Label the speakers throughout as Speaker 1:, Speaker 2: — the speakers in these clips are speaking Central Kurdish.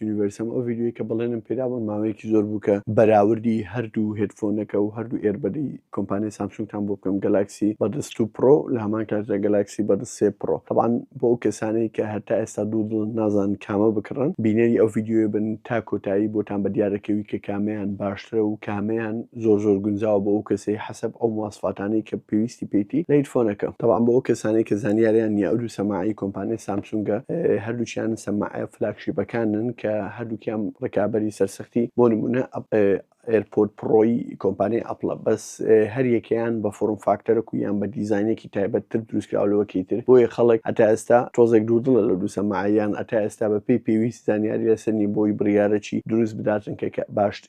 Speaker 1: یونیڤەرسم ئەو ڤیدیۆی کە بەڵێنم پێدابوون ماوەیەکی زۆر بوو کە بەراوردی هەردوو هێدفۆنەکە و هەردوو ئێربەدی کۆمپانیای سامسونگتان بۆ بکەم گەلاکسی بەدەست و پرۆ لە هەمان کاتدا گەلاکسی بەدەست سێ پرۆ تەبان بۆ ئەو کەسانەی کە هەتا ئێستا دوو دڵ نازان کامە بکڕن بینەری ئەو ڤیدیۆیە بن تا کۆتایی بۆتان بە دیارەکەوی کە کامیان باشترە و کامیان زۆر زۆر گونجاوە بۆ ئەو کەسەی حەسەب ئەو مواسفاتانەی کە پێویستی پێیتی لە هیدفۆنەکە تەبعەن بۆ ئەو کەسانەی کە زانیاریان نیە ئەو دوو سەماعەی کۆمپانیای سامسونگە هەردووکیان سەماعە فلاگشیپەکانن کە هەردووکیان ڕکابەری سەرسەختی بۆ نمونە ئێرپۆد پڕۆی کۆمپانیای ئەپڵە بەس هەریەکەیان بە فۆڕم فاکتەرەک و یان بە دیزاینێکی تایبەت تر دروستکراوە لەوەکەی تر بۆیە خەڵک هەتا ئێستا تۆزێک دوودڵە لە دوو سەماعە یان هەتا ئێستا بەپێی پێویست زانیاری لەسەر نیە بۆی بڕیارە چی دروست بداتن کە باشتر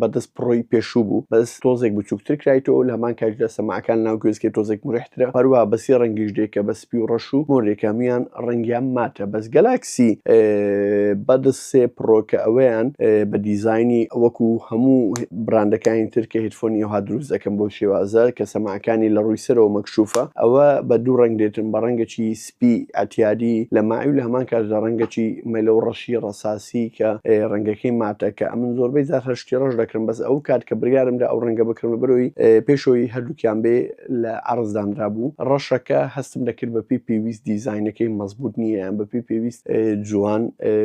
Speaker 1: بەدەست پڕۆی پێشوو بوو بەس تۆزێک بچووکتر کرایتەوەو لە هەمان کاتیشدا سەماعەکان لەناو گوێزکێ تۆزێک مورحترە هەروەها بە سێ ڕەنگیش دێ کە بە سپی و ڕەش و مۆرێک هەموویان ڕەنگیان ماتە بەس گەلاکسی بەدس سێ پڕۆ کە ئەوەیان بە دیزاینی وەکو هەموو براندەکانی تر کە هێدفۆنی ئەوها دروست دەکەن بەو شێوازە کە سەماعەکانی لە ڕووی سەرەوە مەکشوفە ئەوە بە دوو ڕەنگ دێتن بە ڕەنگێکی تپی ئەتیادی لە مای و لە هەمان کاتشدا ڕەنگەکی مەلە و ڕەشی ڕەساسی کە ڕەنگەکەی ماتە کە ئەمن زۆربەی جار هەر شتی ڕەش دەکڕم بەس ئەو کات کە بڕیارم دا ئەو ڕەنگە بکڕم لەبەرئەوەی پێشەوەی هەردووکیان بێ لە عەڕز دانرابوو ڕەشەکە هەستم دەکرد بەپێی پێویست دیزاینەکەی مەزبووت نییە یان بەپێی پێویست جوان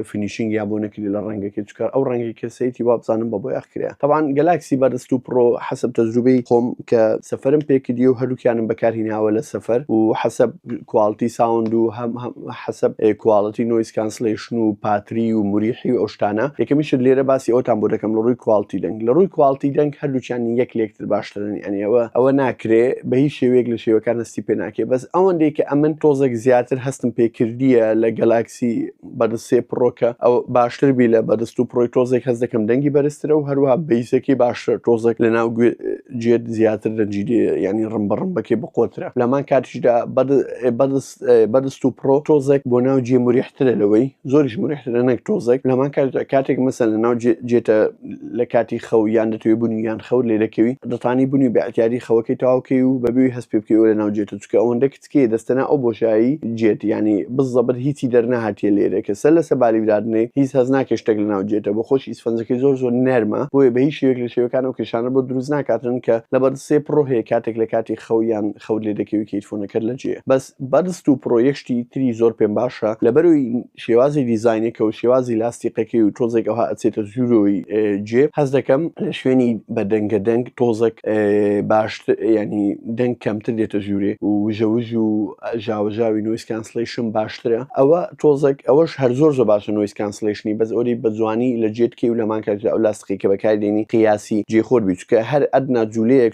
Speaker 1: فینیشینگیان بۆ نەکری لە ڕەنگەکەی چکار ئەو ڕەنگی کەسێتی وابزانم بە بۆیاخ کرێ تەبان گەلاکسی بەرست و پڕۆ حەسەب تەجروبەی خۆم کە سەفەرم پێکردی و هەردووکیانم بەکارهیناوە لە سەفەر و حەسەب کواڵتی ساوند و هەم حەسەب کواڵتی نۆیس کانسلیشن و پاتری و مریحی و ئەوشتانە یەکەمیشت لێرە باسی ئەوتان بۆ دەکەم لە ڕووی کواڵتی دەنگ لە ڕووی کواڵتی دەنگ هەردووچیان یەک لێکتر باشترن ئەنیەوە ئەوە ناکرێ بە هیچ شێوەیەک لە شێوەکان هەستی پێ ناکێ بەس ئەوەندەی کە ئەمن تۆزێک زیاتر هەستم پێکردیە لە گەلاکسی بەرز سێ پڕۆ کە ئەو باشتر بی لە بەرست و پرۆی تۆزێک هەز دەکەم دەنگی بەرزترە و هەروە بەیسەکەی باشتر تۆزێک لە ناو جێت زیاتر دەنجی ینی ڕم بە ڕمبەکەی بقۆترە لەمان کاتیشدا بەرست و پرۆ تۆزێک بۆ ناو جێ مریحترە لەوەی زۆریش مریحترە نەک تۆزێک لەمان کاتێک مەسەن لە ناو جێتە لە کاتی خەو یان دەتوێ بوونی یان خەور لێ دەکەوی دەتانی بوونی بەعتیادی خەوەکەی تاوکەی و بەبیوی هەست پێ بکەوە لە ناو جێتە چکە ئەوەندە کچ تکێ دەستەنا ئەو بۆشایی جێت یانی بز زەبر هیچی دەرنەهاتیە لێرە کە سەر لەسە بالی برادنێ هیچ هەز ناکێ شتەک لە ناو جێتە بۆ خۆش ئیسفەنجەکەی زۆر زۆر نەرمە بۆیە بە هیچ شێوەیەک لە شێوەکان ئەو کێشانە بۆ دروست ناکاتن کە لە بەردسێ پڕۆ هەیە کاتێک لە کاتی خەو یان خەوت لێ دەکەوی کە هیدفۆنەکەت لە جێیە بەس بەردس تو پڕۆ یەک شتی تری زۆر پێم باشە لەبەروی شێوازی دیزاینەکە و شێوازی لاستیقەکەی و تۆزێک ئەوها ئەچێتە زورۆی جێ هەست دەکەم لە شوێنی بە دەنگە دەنگ تۆزەک باش ینی دەنگ کەمتر دێتە ژوورێ و وژەوژ و ژاوەژاوی نویس کانسلیشن باشترە ئەوە تۆزەک ئەوەش هەر زۆر زۆر باشە نویس کانسلیشنی بەس ئەوری بە جوانی لە جێتکی و لەمان کاژە ئەو لاستقی کە بەکاردێنی قیاسی جێخۆر بیچکە هەر ئەدنا جوولەیەک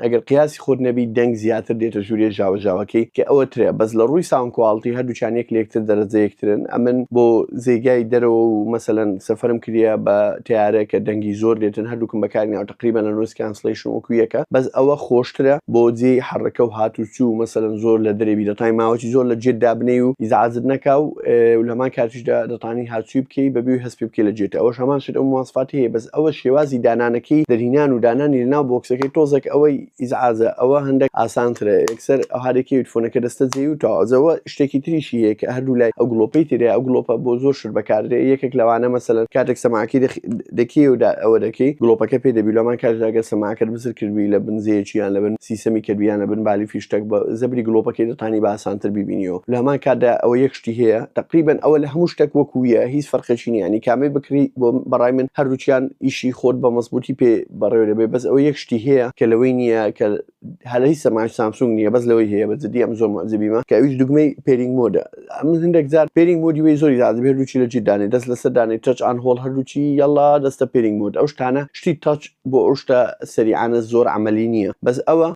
Speaker 1: ئەگەر قیاسی خۆت نەبی دەنگ زیاتر دێتە ژوریە ژاوە ژاوەکەی کە ئەوە ترە بەس لە ڕووی ساوند کواڵتی هەردووکیان یەک لەیەکتر دەرەجە یەکترن ئەمن بۆ زێگای دەرەوە و مەسەلەن سەفەرم کریە بە تەیارە کە دەنگی زۆر دێتن هەردووکم بەکاریناوە تەقریبەن لە نۆیس کانسڵەیشن وەکو یەکە بەس ئەوە خۆشترە بۆ جێی حەڕەکە و هات و چوو مەسەلەن زۆر لە دەرێ بیرە تای ماوەکی زۆر لە جێت دابنێی و ئیزعاجت نەکا و لەهەمان کاتیشدا ئەوەشدا دەتانی هاچوی بکەی بەبێ هەست پێبکەی لە جێتە ئەوەش هەمان شت ئەو مواسفاتی هەیە بەس ئەوە شێوازی دانانەکەی دەرهینان و دانانی لەناو بۆکسەکەی تۆزەک ئەوەی ئیزعاجە ئەوە هەندەک ئاسانترە یەکسەر ئەوها دەکەویت فۆنەکە دەستە جێی و تەواو جەوە شتێکی تریشی هەیە کە هەردوو لای ئەو گڵۆپەی ترەیە ئەو گڵۆپە بۆ زۆر شت بەکاردێ یەکێک لەوانە مەسەلەن کاتێک سەماعەکەی دەکێی و ئەوە دەکەی گڵۆپەکە پێ دەبی لەمان کاتدا گەر سەماعەکەت بزر کردبی لە بن جێیەکی یان لە بن سیسەمی کردبی یان لە بن بالی فیشتەک بە زەبری گڵۆپەکەی دەتانی بە ئاسانتر بیبینیەوە لە هەمان کاتدا ئەوە یەک شتی هەیە تەقریبەن ئەوە لە هەموو شتەک وەکوویە هیچ فەرقێکی نیە ینی کامەی بکری بۆ بەڕای من هەردووکیان ئیشی خۆت بە مەزبووتی پێ بەڕێوەێبێ بەس ئەوە یەک شتی هەیە کە لەوەی نییە کە هەلە هیچ سەماش سامسونگ نییە بەس لەوەی هەیە بە جدی ئەم زۆر مەزبیمە کە ئەویش دوگمەی پێرینگ مۆدە ئەم هەندێک جار پێرینگ مۆدی وی زۆری زیاد هەردووچی لە جیدانێ دەست لەسەر دانێ تەچ ئان هۆڵ هەردووچی یەڵا دەستە پێرینگ مۆد ئەو شتانە شتی تەچ بۆ ئەو شتە سەریعانە زۆر عەمەلی نیە بەس ئەوە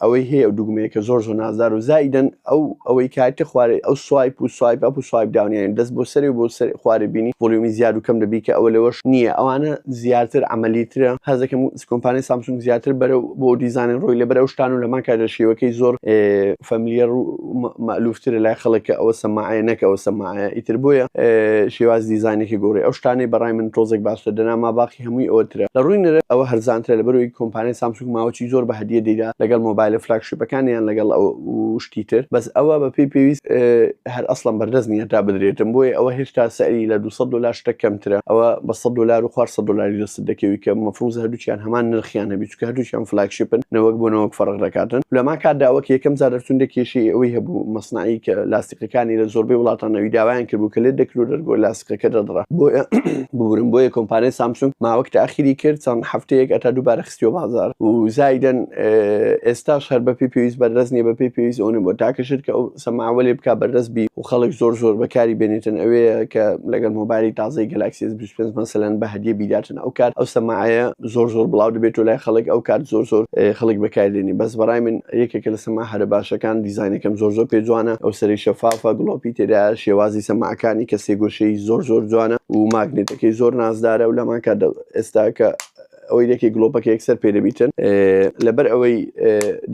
Speaker 1: ئەوەی هەیە ئەو دوگمەیە کە زۆر زۆر نازدار و زائیدەن ئەو ئەوەی کاتە خوارێ ئەو سوایپ و سوایپ ئەپ و سوایپ داونیان دەست بۆ سەرێ بۆ سەر خوارێ بینی ڤۆلیۆمی زیاد و کەم دەبی کە ئەوە لەوەش نیە ئەوانە زیاتر عەمەلی ترە هەست دەکەم کۆمپانیای سامسونگ زیاتر بەرەو بۆ دیزانن ڕۆی لەبەر ئەو شتان و لەمان کاتە شێوەکەی زۆر فەملیەر و مەئلوفترە لای خەڵک کە ئەوە سەماعەیە نەکە ئەوە سەماعەیە ئیتر بۆیە شێواز دیزانێکی گۆڕی ئەو شتانەی بەڕای من تۆزێک باشتر دەنا ماباقی کە هەمووی ئەوە ترە لە ڕووی نرخ ئەوە هەرزانترە لەبەرئەوەی کۆمپانیای سامسونگ ماوەچی زۆر بە هەدیە دەیدا لەگەڵ مۆبایلە فلاگشیپەکان یان لەگەڵ ئەو و شتی تر بەس ئەوە بە پێی پێویست هەر ئەسڵەن بەردەست نییە تا بدرێتم بۆیە ئەوە هێشتا سعری لە دوو سەد دۆلار شتە کەمترە ئەوە بە سەد دۆلار و خوار سەد دۆلاری دەستت دەکەوی کە مەفروزە هەردووکیان هەمان نرخیان هەبی چونکە هەردووکیان فلاگشیپن نەوەک بۆ نەوەک فەرق دەکاتن لەما کاتدا ئەوە کە یەکەم جار دەرچوون دە کێشەی ئەوەی هەبوو مەسناعی کە لاسقەکانی لە زۆربەی وڵاتان نەوی داوایان کردبوو کە لێ دەکرد و دەرگۆ لاسقەکە دەدڕا بۆیە ببورن بۆیە کۆمپانیای سامسونگ ماوەک تاخیری کرد چەند هەفتەیەک ئەتا دووبارە خستیۆ بازار و زایدن ئێستاش هەر بەپی پێویست بەردەست نیە بەپی پێویست ئەوە بۆ تاکە شرکە ئەو سەماوەێ بک بەردەست بی و خەڵک زۆر زۆر بەکاری بێنێتن ئەوەیە کە لەگەر مۆبایلی تازای گەلاکسیس سپێنس مەسەلەن بە هەدیە بیداتن ئەو کات ئەو سەماعەیە زۆر زۆر بڵاو دەبێت و لای خەڵک ئەو کات زۆر زۆر خەڵک بەکاردێنی بەس بەڕای من یەکێکە لە سەما هەرە باشەکان دیزانەکەم زۆر زۆر پێ جوانە ئەو سەری شەفافە گڵۆپی تێدا شێوازی سەماعەکانی کە سێگۆشەی زۆر زۆر جوانە و ماگنێتەکەی زۆر نازدارە و لەمان کات ئێستا کە ئەوەی لەکێ گلۆپەکە یەکسەر پێ دەبیتن لەبەر ئەوەی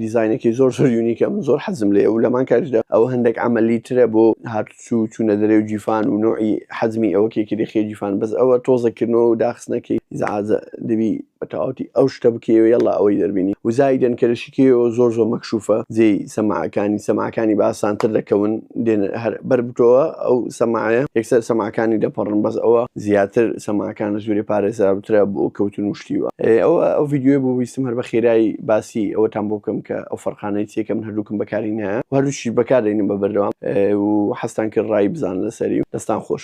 Speaker 1: دیزینێکی زۆر زۆر یونیکەم زۆر حەزم لێ و لەمان کاریشدا ئەوە هەندێک ئەمەلی ترە بۆ هاتوو چوونە دەرێ و جیفان و نوعی حەزمی ئەوە کێکری خێ جیفان بەس ئەوە تۆزەکردنەوە و داخستنەکەی زعازە دەبی بەتەواوتی ئەو شتە بکەوێ یلا ئەوەی دەربینی وزایدن کە لە کێو زۆر زۆر مەکشوفە جێی سەماعەکانی سەماعەکانی بە ئاسانتر دەکەون دێن هەر بەر بتۆوە ئەو سەماعەیە یەکسەر سەماعەکانی دەپەڕن بەس ئەوە زیاتر سەماعەکان لە ژوورێ پارێزراوترە بۆ کەوتن و شتی وا ئەوە ئەو ڤیدیۆیە بۆ بیستم هەر بە خێرایی باسی ئەوەتان بۆ بکەم کە ئەو فەرقانەی چیە کە من هەردووکم بەکاری نایە و هەردووکیش بەکاردێنم بە بەردەوام و حەزتان کرد ڕای بزانن لەسەری دەستان خۆش.